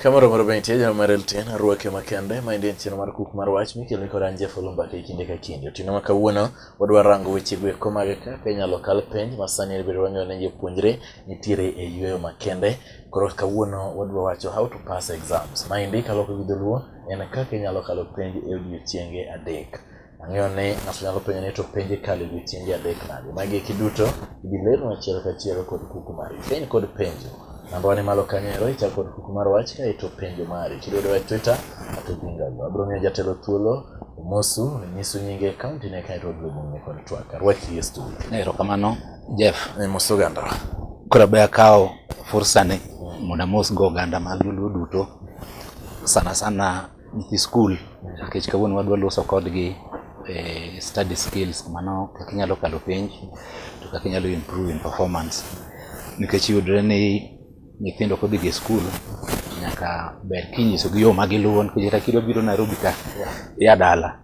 Kamoro mar bentie jana mar LTN arwake makende ma en chenro mar kuk mar wach mikelo kod an Jeff Olumbaka kinde ka kinde. Otieno ma kawuono wadwa rango weche go eko mag kaka inyalo kal penj ma sani bedo wang'eyo ne jopuonjre nitiere e yueyo makende. Koro kawuono wadwa wacho how to pass exams. Maendi kaloko gi dholuo en kaka inyalo kalo penj e odiechienge adek. Ang'eyo ni ng'ato nyalo penjo ni to penj ikalo e odiechienge adek nade? Magi eki duto ibi ler achiel kachiel kod kuku mari. Penj kod penjo. Namba ni malo kanyo ero ichako kod kuku mar wach ka ito penjo mari. Kidwaro e Twitter ato bingago. Abiro miyo jatelo thuolo omosu nyisu nyinge kaunti ne kae to obiro bung'e kod twak. Arwaki e studio. Erokamano Jeff. Ne mos oganda. Koro be akawo fursa ni mondo amos go oganda mag Luo duto sana sana nyithi skul nikech kawuono wadwa loso kodgi eh, study skills mano kaka inyalo kalo penj to kaka inyalo improve in performance nikech yudre ni nyithindo kodhi gi skul nyaka ber kinyisogi yo ma giluwo nikech kata kidwa biro Nairobi ka ia dala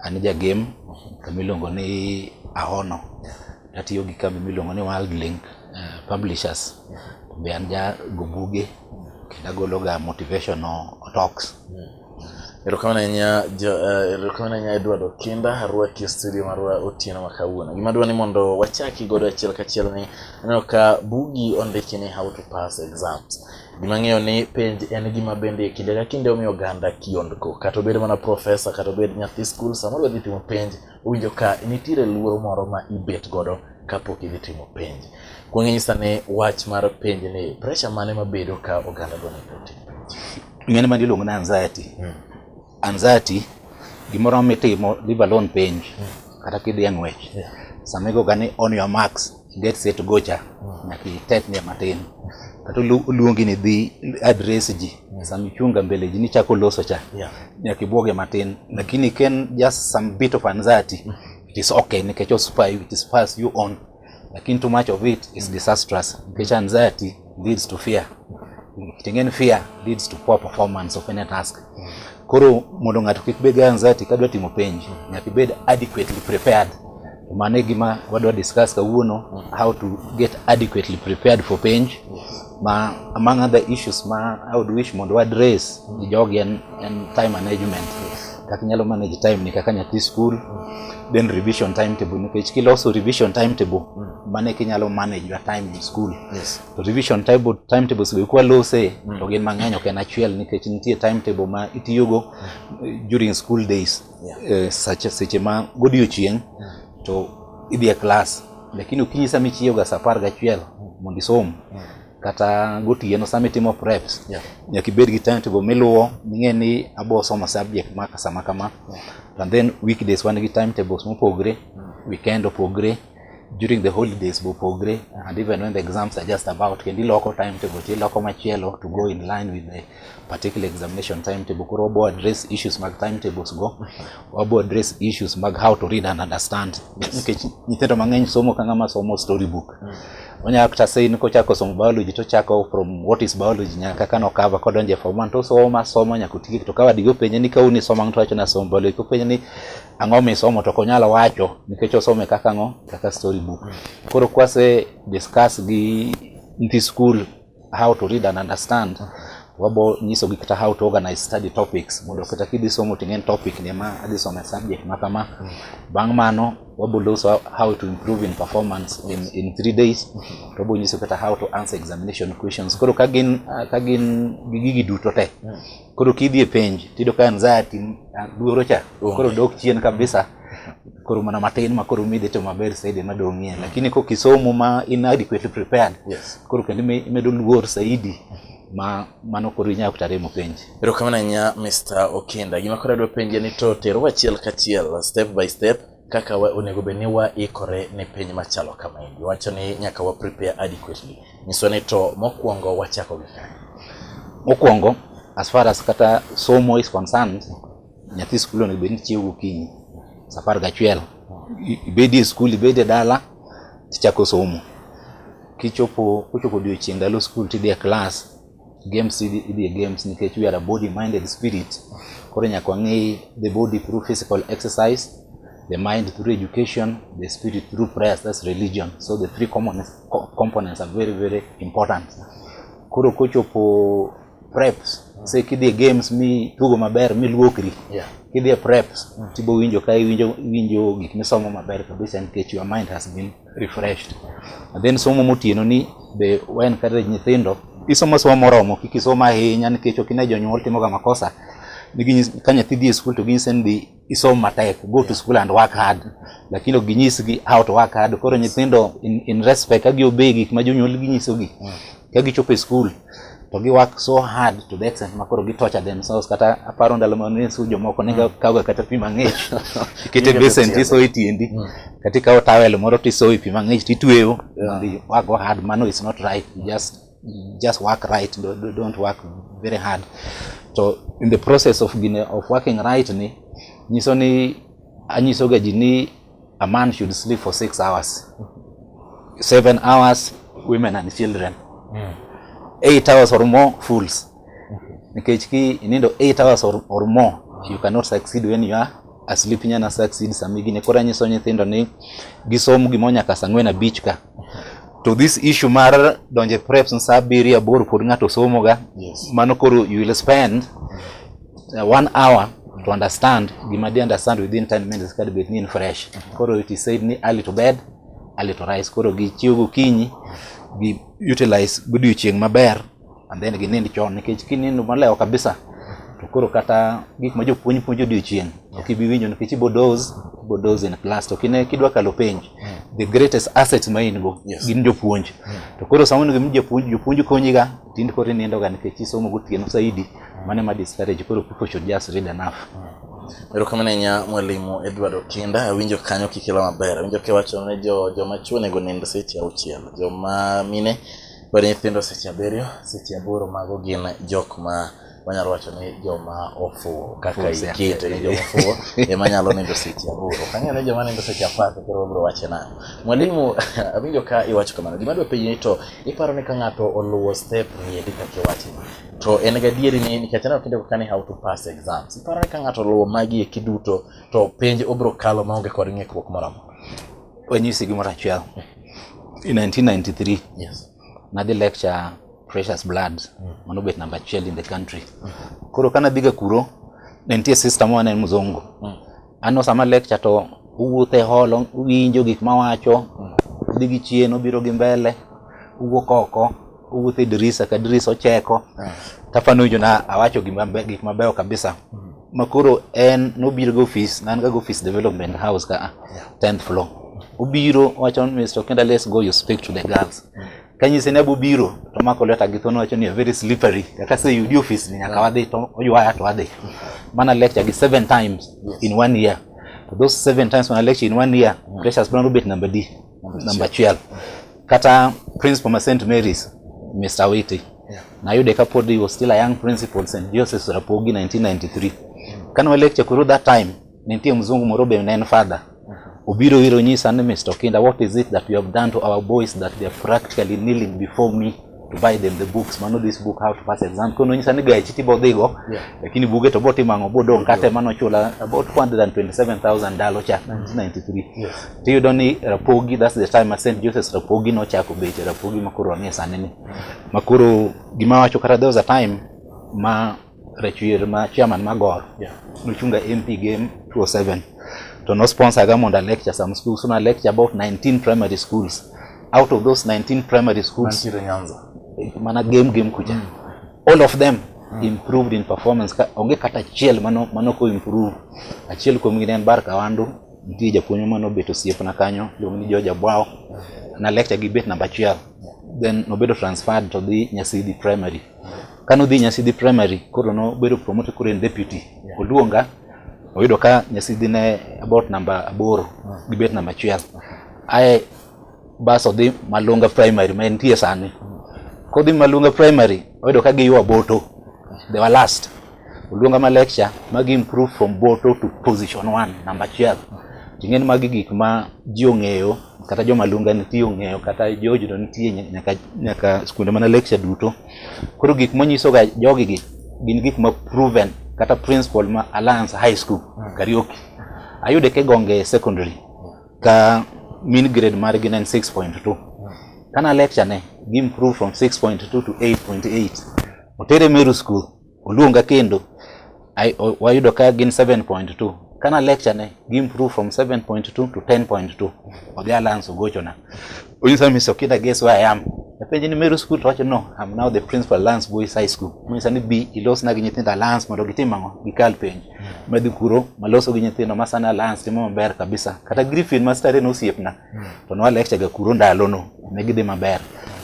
An e jagem kama iluongo ni Ahono. Atiyo gi kambi miluongo ni World Link uh, Publishers. Be an jago buge kendo agologa motivational talks. Erokamano ahinya eh, erokamano ahinya Edward Okinda arwaki e studio marwa otieno ma kawuono. Gima dwa ni mondo wachaki godo achiel kachiel ni aneno ka bugi ondiki ni how to pass exams. Gima ng'eyo ni penj en gima bende kinde ka kinde omiyo oganda kiondko. Kata obed mana profesa, kata obed nyathi skul, samoro odhi timo penj, owinjo ka nitiere luoro moro ma ibet godo kapok idhi timo penj. Kwang'e nyisa ni wach mar penj ni pressure mane mabedo ka oganda dwa ni otim penj? Ng'ani ma iluongo ni anxiety. Hmm. Anxiety gimoro mitimo leave alone penj kata kidhi e ng'wech sama igoga ni on your marks get set go cha nyaka itet ne matin kata olu- oluongi ni dhi address ji sama ichunga mbele ji nichako loso cha Yeah. nyaka ibwoge matin lakini ken just some bit of anxiety it is okay nikech ospy it is pass you on lakini too much of it is disastrous. Which anxiety leads to fear. Kitengeni fear leads to poor performance of any task. Koro mondo ng'ato kik bed anxiety kadwa timo penj, nyaka ibed adequately prepared. Mane gima wadwa discuss kawuono, how to get adequately prepared for penj. ma among other issues ma I would wish mondo address gi jogi en, en time management kaka inyalo manage time ni kaka nyathi school then revision timetable nikech kiloso revision timetable mano eka inyalo manage your time in school Yes. to revision timetable timetables be kwa lose to gin mang'eny ok en achiel nikech nitie timetable ma itiyogo eh, during school days yeah. uh, sache seche ma godiochieng yeah. to idhi e klas lakini okinyi sama ichiyoga sa apar gachiel mondo isom yeah. kata gotieno sama itimo preps yeah. nyaka ibed gi timetable miluwo ming'e ni abo somo subject maka sama kama yeah. and then weekdays wan gi timetables mopogre yeah. weekend opogre during the holidays bopogre and even when the exams are just about kendi loko timetable ti loko machielo to go in line with the particular examination timetable koro wabo address issues mag timetables go wabo address issues mag how to read and understand nikech nyithindo mang'eny somo ka ng'ama somo storybook mm. onyalo kata say ni kochako somo biology to chako from what is biology nyaka kano cover kodonje form 1 to somo somo nyaka otiek to ka wadigo penje ni ka uni somo to wacho na somo biology ko penje ni ang'o misomo to konyalo wacho nikech osome kaka ang'o kaka story book koro kwase discuss gi nyithi school how to read and understand wabo nyiso gi kata how to organize study topics mondo kata kidhi somo ting'en topic ni ma adhi somo e subject ma kama bang' mano wabo loso how to improve in performance in, in three days to wabo nyiso kata how to answer examination questions koro ka gin ka gin gi gigi duto te koro kidhi e penj tiyudo ka anxiety duoro cha koro dok chien kabisa koro mana matin ma koro midhi to maber saidi ma dong'ie lakini kok isomo ma in adequately prepared yes. koro kendo imedo luor saidi ma mano koro inyalo kata remo penj erokamano ahinya mr okinda gima koro adwa penje ni to terowa achiel kachiel step by step kaka wa, onego bed ni waikore ne piny machalo kama endi wacho ni nyaka wa prepare adequately nyiso ni to mokwongo wachako gi kanye mokwongo as far as kata somo is concerned nyathi skul onego bed ni chiewo gokinyi saa apar gachiel ibedi e skul ibedi e dala tichako somo kichopo kochopo odiochieng' ndalo skul tidhi e klas Games idhi idhi e games nikech we are a body minded spirit. Koro nyaka wang'i the body through physical exercise, the mind through education, the spirit through prayers, that's religion. So the three components, co- components are very very important. Koro kochopo preps, say kidhi e games mi tugo maber mi luokri. Yeah. Kidhi e preps, tibo winjo ka iwinjo iwinjo gik misomo maber kabisa nikech your mind has been refreshed. And then somo motieno ni be wa encourage nyithindo isomo somo moromo kik isom ahinya nikech ok ine jonyuol timoga makosa ka nyathi dhi e skul to ginyise ni dhi isom matek go to school and work hard lakini ok ginyisgi how to work hard koro nyithindo in, in respect ka giobey gik ma jonyuol ginyisogi mm. ka gichopo e skul to gi work so hard to the extent ma koro gi torture themselves kata aparo ndalo ma ne su jomoko ne ga kawo kata pi mang'ich ikete basin to isoyo tiendi mm. kata ikawo towel moro to isoyo pi mang'ich to itweyo work go hard mano is not right just just work right don't work very hard to in the process of gine of working right ni nyiso ni anyisoga ji ni a man should sleep for six hours seven hours women and children mm. eight hours or more fools nikech ki inindo eight hours or, or more you cannot succeed when you are asleep nyana succeed samigine koro anyiso nyithindo ni gisom gimonyaka sang'wen abich ka to this issue mar donje preps sa abiriyo aboro pod ng'ato somoga yes. mano koro you will spend uh, one hour to understand gima di understand within 10 minutes kadi bed ni in fresh koro it is said ni early to bed early to rise koro gichiwo gokinyi gi utilize godiochieng' maber and then ginind chon nikech kinindo malewo kabisa to koro kata gik ma jopuonj puonjo odiochieng' ok ibi winjo nikech ibo doze ibo doze in class to kine kidwa kalo penj the greatest asset ma in go Yes. gin jopuonj to koro sama onego mi jopuonj jopuonj konyiga tind koro inindoga nikech isomo gotieno saidi mane ma discourage koro people should just read enough Erokamano ahinya mwalimu Edward Okinda, awinjo kanyo kikelo maber. Awinjo kiwacho ne jo joma chwo onego nind seche auchiel, joma mine Koro nyithindo seche abiriyo, seche aboro mago gin jok ma wanyalo wacho ni joma ofuwo kaka Ofuwo seche iketo ni joma ofuwo ema nyalo nindo seche aboro. Kang'eyo ni joma nindo seche apar to koro wabiro wache nang'o. Mwalimu, awinjo ka iwacho kamano. Gima adwa penji ni to iparo ni ka ng'ato oluwo step ni endi kaka iwacho ni, to en gadieri ni nikech aneno kinde ka ni how to pass exams. Iparo ni ka ng'ato oluwo magi eki duto to penj obiro kalo maonge kod ng'ikruok moro amora? Wanyisi gimoro achiel. In 1993, yes. nadhi lecture Precious Blood, mm. mano bet namba achiel in the country. Mm. Koro kana dhiga kuro, ne nitie sister moro ne mzungu. Mm. Ano sama lecture to uwuotho e holo, uwinjo gik mawacho, mm. udhi gi chien, ubiro gi mbele, uwuok oko. owuoth e dirisa ka dirisa ocheko ah. tafano winjo na awacho gik mabeyo kabisa hmm. makoro en nobiro go office nan ga go office development house ka ah, 10th floor obiro wacho ni Mr. Kenda let's go you speak to the girls hmm. kanyise ne bubiro to mako leta gi thono wacho ni a very slippery kaka se yudi office ni nyaka hmm. wadhi to oyuaya to wadhi mana lecture gi seven times in one year those seven times when I lecture in one year pressures bro rubet number D namba achiel kata principal ma St Mary's Mr Witi yeah. nayude kapod he was still a young principal St Joseph's Rapogi 1993 kane wa lecture kuru that time nitie mzungu moro be ne en father obiro iro nyisa ni Mr Kinda what is it that you have done to our boys that they are practically kneeling before me to buy them the books mano this book how to pass exam kono nyisa ni gachi tibo dhigo yeah. lakini buge to boti mango bodo nkate mano chula about 127000 dalo cha 1993 yes. tiyudo ni rapogi that's the time St Joseph's rapogi no chako beche rapogi makoro anie sani ni makoro gima wacho kata there was a time ma Rachwer ma chairman ma Gor yeah. nochunga MP game 2007 to no sponsor ga mondo lecture some schools so na lecture about 19 primary schools out of those 19 primary schools Nantire Nyanza mana game game kuja mm. all of them mm. improved in performance ka, onge kata achiel mano mano ko improve achiel kuom gi en Barka Wandu nitie japuonj mano bet osiepna kanyo luong ni George Abwao na lecture gi bet namba achiel then nobedo transferred to the Nyasidi primary Kane odhi Nyasidhi Primary, koro nobedo promote koro en deputy. Yeah. Oluonga, oyudo ka Nyasidhi ne about namba aboro, hmm. gibet namba achiel. Aye bas odhi Malunga Primary ma entie sani. Hmm. Kodhi Malunga Primary, oyudo ka giywa boto. They were last. oluonga ma lecture magi improve from boto to position one namba achiel ting'eni magi gik ma ji ong'eyo kata joma lunga nitie ong'eyo kata jojudo nitie nyaka, nyaka skunde mana lecture duto koro gik monyisoga jogi gi gin gik ma proven kata principal ma alliance high school hmm. karioki ayude ke gonge secondary ka min grade mar gi en 6.2 hmm. kana lecture ne gi improve from 6.2 to 8.8 otere meru school Oluonga kendo wayudo ka gin 7.2 kana lecture ne gi improve from 7.2 to 10.2 odhi alliance ogochona onyisa ni Mr. Kida guess where I am apenje ni Meru school to wacho no I'm now the principal Alliance Boys High School monyisa ni bi ilosna gi nyithindo Alliance mondo gitim ang'o gikal penj madhi kuro maloso gi nyithindo masana Alliance timo maber kabisa kata Griffin mastare ne osiepna to nwa lecture ga kuro ndalono ne gidhi maber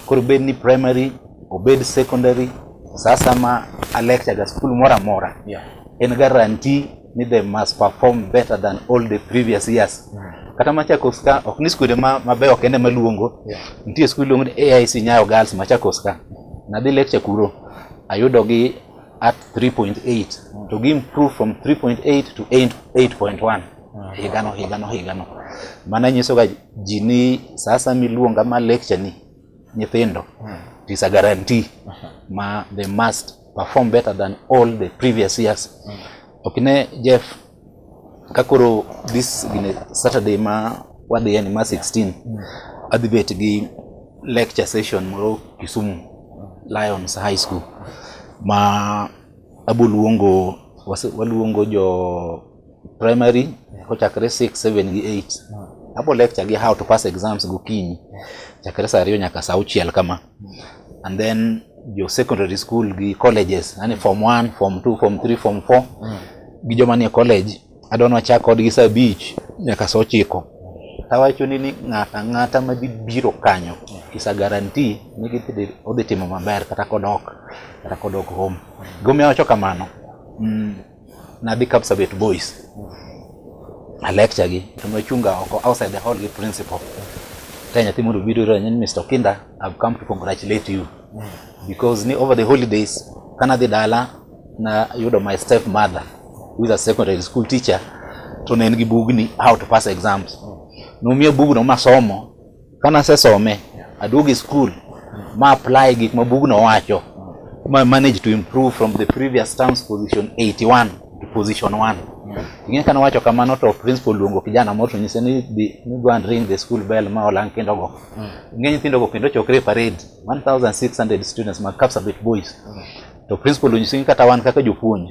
koro bed ni primary obed secondary sasa ma a lecture ga school moro amora Yeah. en guarantee ni they must perform better than all the previous years kata machakos ka ok ni skunde ma- mabeyo kende maluongo Yeah. nitie skul iluongo ni aic nyayo girls machakos ka nadhi lecture kuro ayudo gi at 3.8 to gi improve from 3.8 to 8 8.1 ah, higano higano higano. Mano nyiso ga ji ni sasa miluonga ma lecture ni nyithindo hmm. it is a guarantee ma they must perform better than all the previous years. Hmm. Okine Jeff kakoro this gine Saturday ma wadhi yani ma 16 hmm. adhi bet gi lecture session moro Kisumu Lions High School ma aboluongo waluongo jo primary kochakre 6 7 gi 8 abo lecture gi how to pass exams gokinyi chakre saa ariyo nyaka saa auchiel kama and then jo secondary school gi colleges yani form 1 form 2 form 3 form 4 gi joma nie college adwa ni wachak kodgi saa abich nyaka saa ochiko tawacho ni ni ng'ato ang'ata ma dhi biro kanyo kisa garanti ni gidhi odhi timo maber kata kodok kata kodok home gimomiyo awacho kamano mm, Nadhi Kapsabet Boys. A lecture gi to nochunga oko outside the hall gi principal. Ka nyathi mondo biro ira nyen Mr. Kinda, I've come to congratulate you. Because ni over the holidays kana dhi dala na yudo my step mother who is a secondary school teacher to ne en gi bugni how to pass exams. Nomiya bugno masomo Kana sesome, aduogo e skul ma apply gik ma bugno wacho ma manage to improve from the previous term's position 81 to position 1. Ing'e kana wacho kamano to principal luongo kijana moro to nyise ni dhi ni go and ring the school bell ma olang kendo go. Ing'e nyithindo go kendo chokre e parade 1600 students ma Kapsabet boys. To principal onyisi ni kata wan kaka jopuonj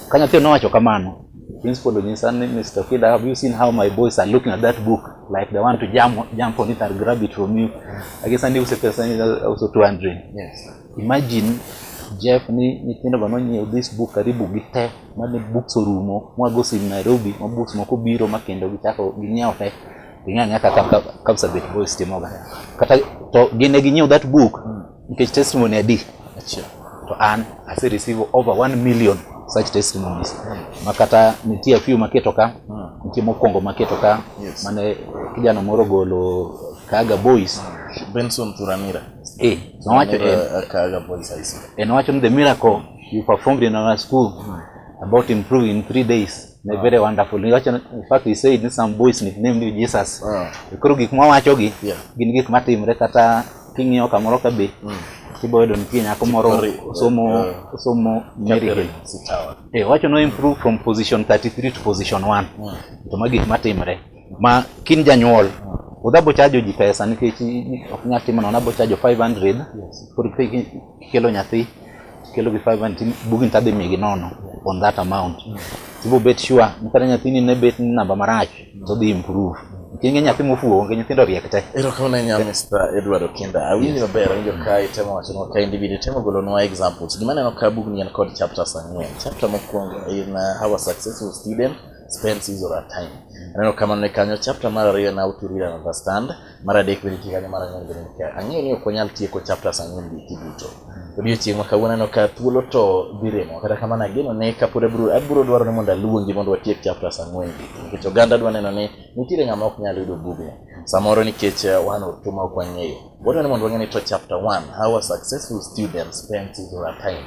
Ka nyathi nowacho kamano, principal onyisa ni Mr. Kida, have you seen how my boys are looking at that book like they want to jump, jump on it and grab it from you? I guess and use pesa ni also 200. Yes. Imagine Jeff ni nyithindo go nonyiew this book karibu gi te mane books orumo mwago sim Nairobi ma books moko biro ma kendo gichako ginyiewo te ing'ang'a kaka Kapsabet Boys timoga kata to gine ginyiew that book Nikech testimony adi? Achiel. To an ase receive over 1 million such testimonies. Hmm. Makata nitie a few maketo ka, hmm. nitie mokwongo maketo ka, yes. mane kijana moro golo Kaga Boys. Hmm. Benson Turamira. Eh, nowacho en. Eh, Kaga Boys I see. Eh, nowacho ni the miracle you performed in our school hmm. about improving in three days. Ne ah. very wonderful. Niwacho in fact he said some boys nicknamed Jesus. Ah. Koro gik mwawacho gi yeah. gin gik matimre kata king'iyo kamoro ka be mm. kibo yudo nitie nyako moro osomo osomo Mary Hill eh wacho no improve from position 33 to position 1 mm. to ma gik matimre ma kin janyuol mm. udhabo chajo ji pesa nikech ok nyal timo nono abo chajo 500 yes. Kelo nyathi, kelo gi five and tin, bugni tadhi migi nono on that amount. Tibo bet sure, ni kata nyathini ne bet ni namba marach, to dhi improve. Kinge nyathi mofuwo, onge nyithindo riek te. Erokamano ahinya Mr. Edward Okinda. Awinjo maber, awinjo ka itemo wacho nwa ka individual, itemo golo nwa examples. Gima aneno ka bugni en kod chapters ang'wen. Chapter mokwongo in uh, how a successful student spends his or her time. Aneno kamano ni kanyo, chapter mar ariyo en how to read and understand. mar adek bende itiyo kanyo, mar ang'wen bende itiyo kanyo. Ang'eyo ni ok wanyal tieko chapters ang'wen gi eki duto. Odiochieng' ma kawuono aneno ka thuolo to dhi remo, kata kamano ageno ne kapod abiro abiro dwaro ni mondo aluongi mondo watiek chapters ang'wen gi eki, nikech oganda dwa neno ni nitiere ng'ama ok nyal yudo bugni. Samoro nikech eh, wan otu ma ok wang'eyo. Wadwaro ni mondo wang'e ni to chapter one, how a successful student spends his or her time.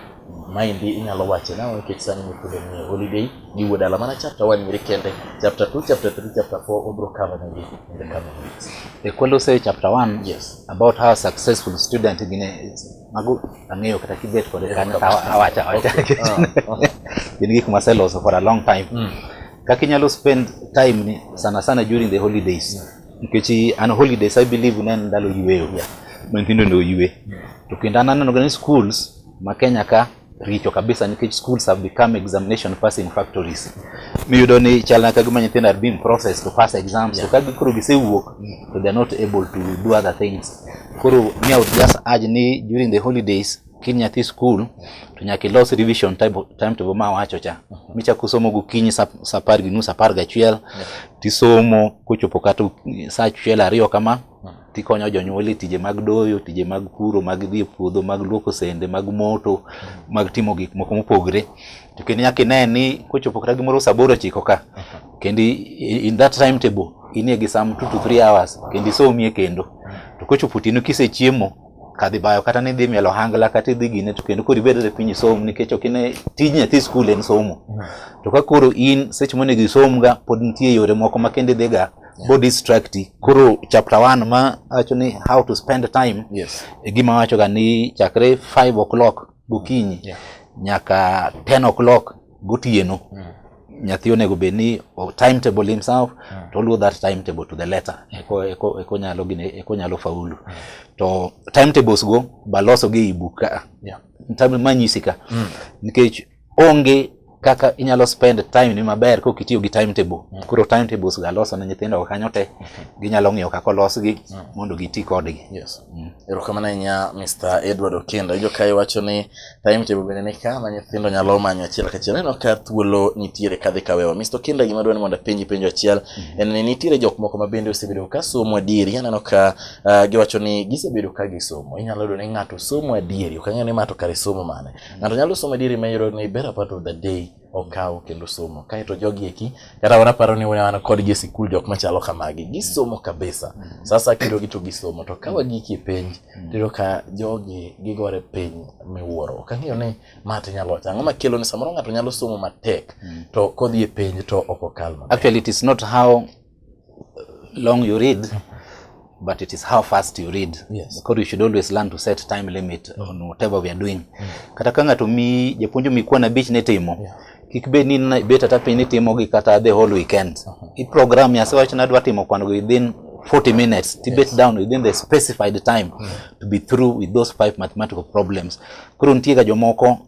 Maendi inyalo wacho nang'o nikech sani nyithindo nie holiday, gi wuod ala mana chapter 1 nyiri kende chapter 2 chapter 3 chapter 4 obro cover negi in the coming weeks e kwelo say chapter 1 yes about how successful student gine mago ang'eyo kata kibet kod kan awacha awacha gin gik maseloso for a long time mm. kaka inyalo spend time ni sana sana during the holidays mm. nikech an holidays i believe ne ndalo yueyo yeah. nyithindo ne oyue mm. to kendo an aneno ni schools ma Kenya ka richo kabisa nikech schools have become examination passing factories. Miyudo ni chal na kagima nyithindo are being processed to pass exams yeah. to kagi koro gisewuok to they are not able to do other things. Koro me I would just urge ni during the holidays kin nyathi school to nyaka ilos revision time, time to ma wacho cha mhm. michako somo gokinyi sa apar gi nus apar gachiel tisomo kochopo kata sa achiel ariyo kama mhm. tikonyo jonyuol e tije mag doyo, tije mag puro, mag dhi e puodho, mag luoko sende, mag moto, mag timo gik moko mopogre. To kendo nyaka ine ni kochopo kata gimoro saa aboro ochiko ka, kendo in that time table inie gi some two to three hours kendo isomie kendo. To kochopo otieno kisechiemo, kadhi bayo kata ni dhi mielo hangla kata idhi gine to kendo koro ibedre piny isom nikech ok ine tij nyathi skul en somo. To ka koro in seche monego isomga pod nitie yore moko ma kendo idhiga yeah. bo distract koro chapter 1 ma wacho ni how to spend time yes. e gima wacho ga ni chakre 5 o'clock gokinyi yeah. nyaka 10 o'clock gotieno mm. nyathi onego bed ni timetable himself mm. to oluwo that timetable to the letter eko, eko, eko nyalo gine eko nyalo faulu mm. to timetables go baloso gi e book ka yeah. manyisi ka mm. nikech onge kaka inyalo spend time ni maber kok itiyo gi timetable mm. koro timetables ga loso ne nyithindo kanyo te mm. ginyalo ng'iyo kaka olosgi mm. mondo giti kodgi yes. mm. erokamano ahinya mr edward okendo ijo kae wacho ni timetable bende ni ka ma nyithindo nyalo manyo achiel kachiel neno ka thuolo nitiere kadhi kawewa mr okendo gima dwani mondo apenji penjo achiel mm. en ni nitiere jok moko ma bende osebedo ka somo adieri aneno ka uh, giwacho ni gisebedo ka gisomo inyalo yudo ni ng'ato somo adieri ok ang'eyo ni ng'ato kare somo mane Ng'ato nyalo somo dieri ma yoro ni better part of the day okawo kendo somo. Kae to jogi eki kata wana paro ni wana kod gi sikul jok machalo kamagi. Gisomo kabisa. Mm. Sasa kendo gito gisomo to kawa giki e penj. Mm. Tiro ka jogi gigore piny miwuoro. Ok ang'eyo ni ma to nyalo wacho. Ang'o makelo ni samoro ng'ato nyalo somo matek mm. to kodhi e penj to ok okal maber. Actually it is not how long you read but it is how fast you read yes. because you should always learn to set time limit mm. on whatever we are doing mm. kata ka ng'ato mi japuonjo mikuwa na bich ni timo yeah. kik bed ni bet ata piny ni timo gi kata the whole weekend uh -huh. i program ya sewach na dwa timo kwano within 40 minutes to yes. bet down within the specified time mm. to be through with those five mathematical problems koro nitie ga jomoko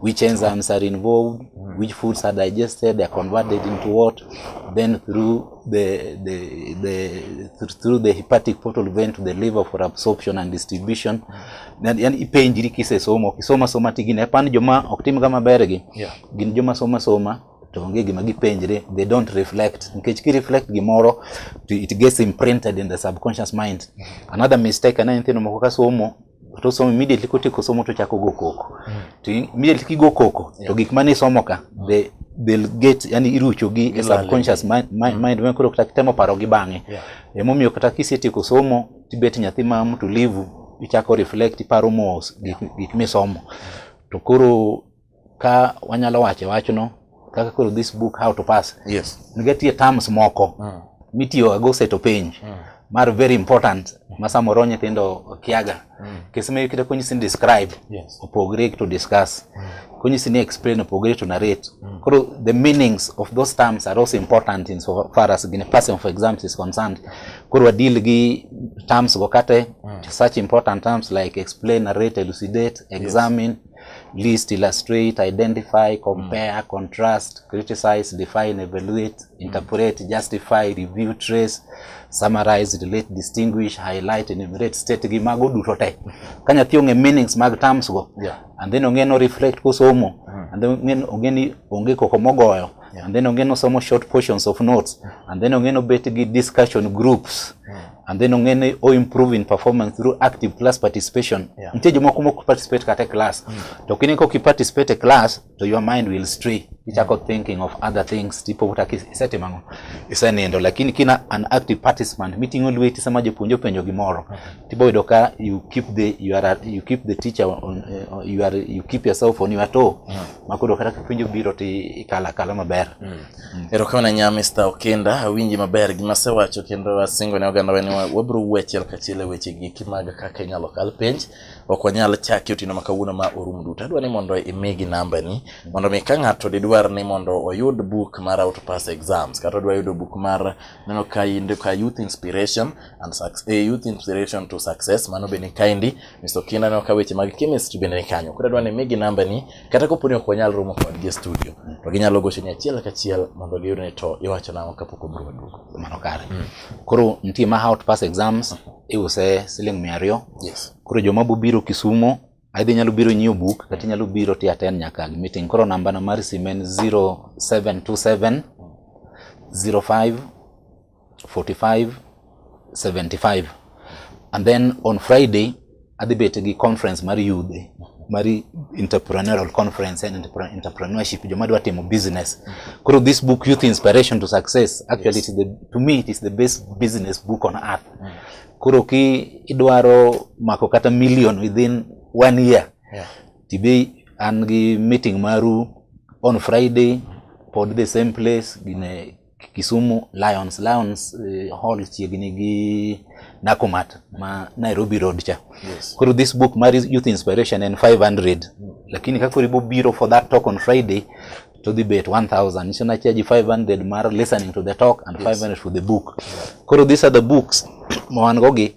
which enzymes are involved, mm. which foods are digested, are converted into what, then through the, the, the, through the hepatic portal vein to the liver for absorption and distribution. Mm. Yani ipenjiri kisesomo, kisoma soma tigine, hapana joma ok tim kama bergi, yeah. gin joma soma soma to onge gima gipenjre they don't reflect nikech ki reflect gimoro to it gets imprinted in the subconscious mind another mistake aneno nyithindo moko ka somo to osomo immediately kotieko somo to chako go koko mm. to immediately kigo koko yeah. to gik mane isomo ka mm. they they'll get yani irucho gi e subconscious mind mind, mm. mind ma koro kata kitemo paro gi bang'e yeah. emomiyo kata kisetieko somo tibet nyathi ma mtulivu ichako reflect iparo mos gik, yeah. gik misomo to koro Ka wanyalo wache wachno kaka koro this book how to pass. Yes. Nigetie terms moko mm. mitiyo go seto penj mm. mar very important ma samoro nyithindo kiaga mm. kisema ikita konyisi ni describe yes. opogre to discuss mm. konyisi ni explain opogre to narrate mm. koro the meanings of those terms are also important in so far as gine passing of exams is concerned koro wadeal gi terms go kate mm. such important terms like explain narrate elucidate examine yes. list, illustrate, identify, compare, mm. contrast, criticize, define, evaluate, mm. interpret, mm. justify, review, trace, summarize, relate, distinguish, highlight, enumerate, state gi mago duto te. Ka nyathi ong'e meanings mag terms go, yeah. and then ong'e no reflect kosomo, mm. and then ong'e ni onge koko mogoyo, yeah. and then ong'e no somo short portions of notes, mm. and then ong'e no bet gi discussion groups. Mm. and then ong'e ni o improve in performance through active class participation yeah. Nitie jomoko mok participate kata e class mm. to kine kok i participate e class to your mind will stray ichako mm. thinking of other things tipo wuta isetimo ang'o isenindo lakini kina an active participant miting'o lweti sama jopuonj openjo gimoro okay. tibo yudo ka you keep the you are you keep the teacher on, uh, you are you keep yourself on your toe mm. makoro kata kipenjo biro ti ikala kala maber mm. Mm. Erokamano nya Mr. Okenda, awinji maber gima asewacho kendo asingo ne ogandawa ni wabiro wuo achiel kachiel e weche giki mag kaka inyalo kal penj. Ok wanyal chaki otieno ma kawuono ma orum duto. Adwa ni mondo imigi nambani mondo mi ka ng'ato didwar ni mondo oyud buk mar How to Pass Exams kata odwa yudo buk mar neno ka inde ka Youth Inspiration and Success, eh, Youth Inspiration to Success mano bende kaindi Mr. Okenda ne ka weche mag chemistry bende ni kanyo. Koro adwa ni imigi nambani kata kopo ni ok wanyal romo kodgi e studio to ginyalo gochoni achiel kachiel mondo giyudne to iwacho nang'o kapok obiro waduogo mano kare mm. koro nitie ma how to pass exams iuse siling mia ariyo yes. koro joma bobiro kisumo aidha inyalo biro nyiewo buk kata inyalo biro ti attend nyaka meeting koro nambana mar simu en 0727 05 45 75 and then on Friday adhi bet gi conference mar youth mar entrepreneurial conference and entrepreneurship joma dwa timo business koro this book youth inspiration to success actually yes. it is the, to me it is the best business book on earth mm. koro ki idwaro mako kata million within one year yeah. tibe an gi meeting maru on Friday pod the same place gine Kisumu Lions. Lions uh, Hall chiegni gi Nakumat ma Nairobi Road cha. Yes. Koro this book mar Youth Inspiration en 500. Mm. Lakini kakori bo biro for that talk on Friday to dhi bet 1000 nicho na charge 500 mar listening to the talk and yes. 500 for the book. Yeah. Koro these are the books ma wan go gi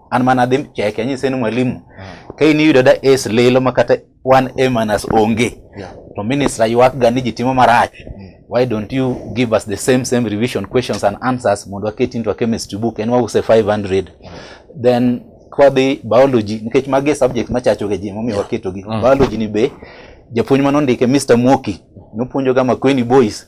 an mana adhi cheke anyise ni mwalimu mm. ka in iyudo da es lilo ma kata one a minus onge yeah. to minister ywak ga ni ji timo marach mm. why don't you give us the same same revision questions and answers mondo waket into a chemistry book en wause 500 mm. then kwadhi biology nikech magi subject machacho ga ji momiyo waketogi mm. biology ni be japuonj manondike Mr. Mwoki nopuonjoga Makueni boys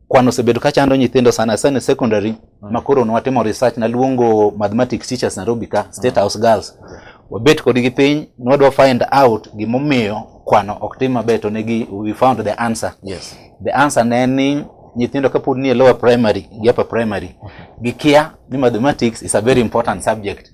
kwan osebedo ka chando nyithindo sana sana e secondary mm. makoro nwatimo research naluongo mathematics teachers Nairobi ka mm. State House girls wabet kodgi piny nwadwa find out gimomiyo kwano ok tim maber to negi we found the answer yes the answer ne ni nyithindo kapod nie lower primary gi upper primary mm-hmm. gikia ni mathematics is a very important subject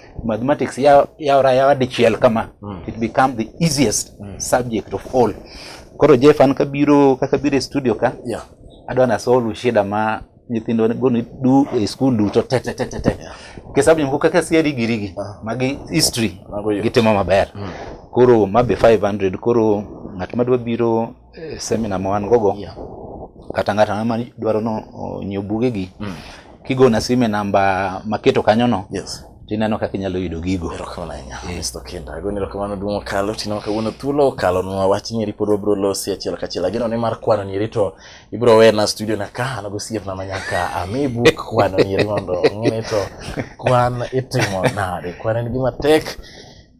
mathematics yawra yawa dichiel kama mm. it become the easiest mm. subject of all koro jeff an kabiro kaka biro e studio ka yeah. adwa na solve shida ma nyithindo goni du e school duto te te te te te ke sababu mko kaka si rigi rigi ah. magi history gitimo maber mm. koro mabe 500 koro ng'at madwa biro eh, seminar ma wan gogo yeah. kata ng'ato ang'ata ma dwaro no nyiew bugegi mm. kigona sime namba maketo kanyono yes tineno kaka inyalo yudo gigo erokamano ahinya eh. mr kenda agoni erokamano duong' okalo tineno kawuono thuolo okalo nwa wach nyeri pod wabiro losi achiel kachiel ageno ni mar kwano nyeri to ibiro wena studio na ka an gosiepna ma nyaka ami buk kwano nyeri mondo ong'e ni to kwan itimo nade kwan en gima tek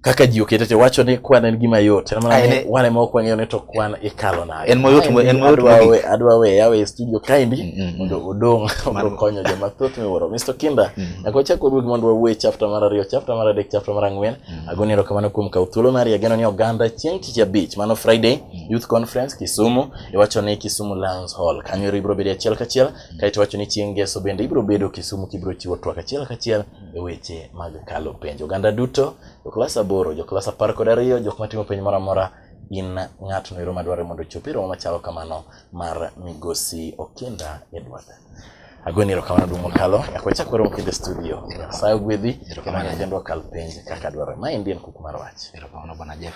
kaka ji okete te wacho ni kwan en gima yot en mana ni wan ema ok wang'eyo ni to kwan ikalo nade en moyot mo en moyot mo adwa we yawe e studio kaindi mm, mm, mm. mondo odong mondo konyo joma thoth miwuoro Mr Kinda nyaka wachak waduog mondo wawuoye chapter mar ariyo chapter mar adek chapter mar ang'wen agoni erokamano kuom kawo thuolo mari ageno ni oganda chieng' tich abich mano Friday Youth Conference Kisumu iwacho ni Kisumu Lions Hall kanyo ibiro bedo achiel kachiel kaito wacho ni chieng' ngeso bende ibiro bedo Kisumu kibiro chiwo twak achiel kachiel e weche mag kalo penj. Oganda duto, joklas aboro, joklas apar kod ariyo, jok matimo penj moro amora in ng'at noero madwaro mondo ochopi romo machalo kamano mar migosi Okinda Edward. Agweni erokamano duong' mokalo nyaka wachak warom kendo e studio. Nyasaye ogwedhi kendo kendo wakal penj kaka dwarore. Ma en kuku mar wach. Erokamano bwana Jeff.